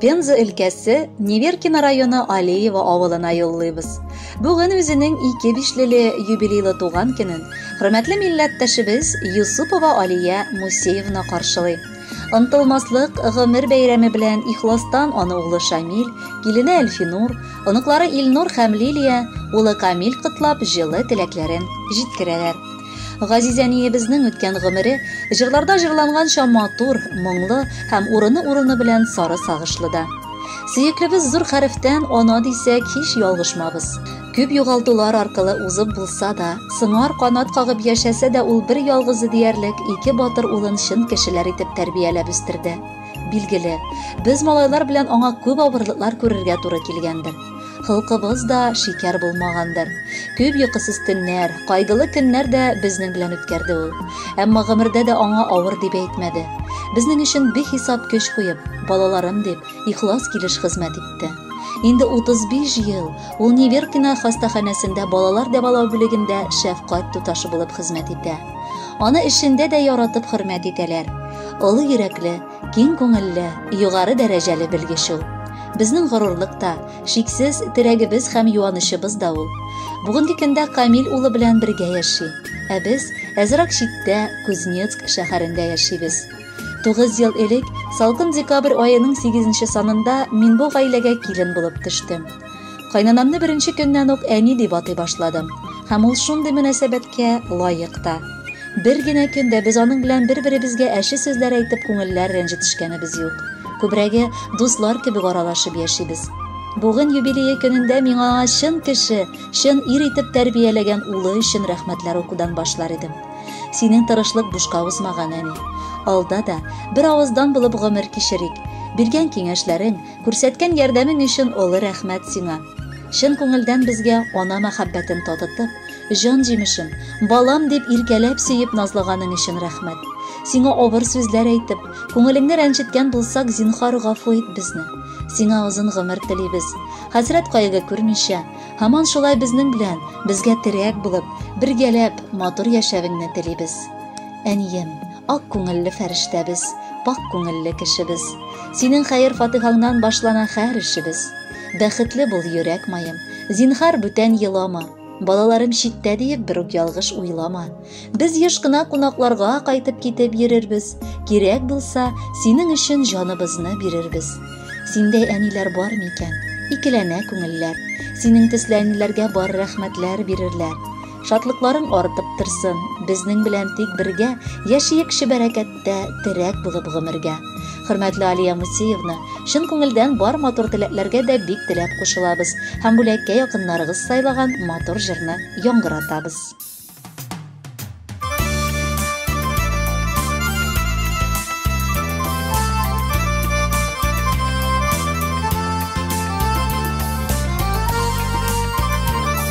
Пенза өлкәсе Неверкино районы Алиево авылына юллыйбыз. Бүген үзенең ике бишлеле юбилейлы туган көнен хөрмәтле милләттәшебез Юсупова Алия Мусеевна каршылый. Ынтылмаслык гомер бәйрәме белән ихластан аны улы Шамил, килене Әлфинур, оныклары Илнур һәм Лилия, улы Камил котлап җылы теләкләрен җиткерәләр. Газиз әниебезнең үткән гомере җырларда җырланганча матур, моңлы һәм урыны-урыны белән сары сагышлы да. Сөеклебез зур хәрефтән ана дисәк, һич ялгышмабыз. Күп югалтулар аркылы узып булса да, сыңар канат кагып яшәсә дә ул бер ялгызы диярлек ике батыр улын чын кешеләр итеп тәрбияләп үстерде. Билгеле, без малайлар белән аңа күп авырлыклар күрергә туры килгәндер. Холкыбыз да шикәр булмагандыр. Күп йокысыз төннәр, кайгылы көннәр дә безнең белән үткәрде ул. Әмма гомердә дә аңа авыр дип әйтмәде. Безнең өчен бихисап көч куеп, балаларым дип, ихлас килеш хезмәт итте. Инде 35 ел ул Неверкина хастаханәсендә балалар дәвалау бүлегендә шәфкать туташы булып хезмәт итә. Аны эшендә дә яратып хөрмәт итәләр. Олы йөрәкле, Киң күңелле, югары дәрәҗәле белгеч ул. Безнең горурлык та, шиксез терәгебез һәм юанычыбыз да ул. Бүгенге көндә Камил улы белән бергә яши, ә без әзрак читтә, Кузнецк шәһәрендә яшибез. Тугыз ел элек, салкын декабрь аеның сигезенче санында мин бу гаиләгә килен булып төштем. Кайнанамны беренче көннән үк әни дип атый башладым. Һәм ул шундый мөнәсәбәткә лаек та. Бер генә көндә без аның белән бер-беребезгә әче сүзләр әйтеп күңелләр рәнҗетешкәнебез юк. Күбрәге дуслар кебек аралашып яшибез. Бүген юбилее көнендә миңа аңа чын кеше, чын ир итеп тәрбияләгән улы өчен рәхмәтләр укудан башлар идем. Синең тырышлык бушка узмаган, әни. Алда да бер авыздан булып гомер кичерик. Биргән киңәшләрең, Күрсәткән ярдәмең өчен олы рәхмәт сиңа. Чын күңелдән безгә ана мәхәббәтен татытып, җан җимешем, балам дип иркәләп сөеп назлаганың өчен рәхмәт. Сиңа авыр сүзләр әйтеп, күңелеңне рәнҗеткән булсак, зинхар гафу ит безне. Сиңа озын гомер телибез. Хәсрәт кайгы күрмичә, һаман шулай безнең белән, безгә терәк булып, бергәләп матур яшәвеңне телибез. Әнием, Ак күңелле фәрештәбез, пак күңелле кешебез. Синең хәер-фатыйхаңнан башлана һәр эшебез. Бәхетле бул, йөрәк маем, зинһар бүтән елама. Балаларым читтә диеп бер үк ялгыш уйлама. Без еш кына кунакларга кайтып китеп йөрербез. Кирәк булса, синең өчен җаныбызны бирербез. Синдәй әниләр бар микән? Икеләнә күңелләр. Синең төсле әниләргә бар рәхмәтләр бирерләр. Шатлыкларың артып торсын, безнең белән тик бергә яшиек чибәрәкәттә терәк булып гомергә. Хөрмәтле Алия Мусеевна, чын күңелдән бар матур теләкләргә дә бик теләп кушылабыз һәм бүләккә якыннарыгыз сайлаган матур җырны яңгыратабыз.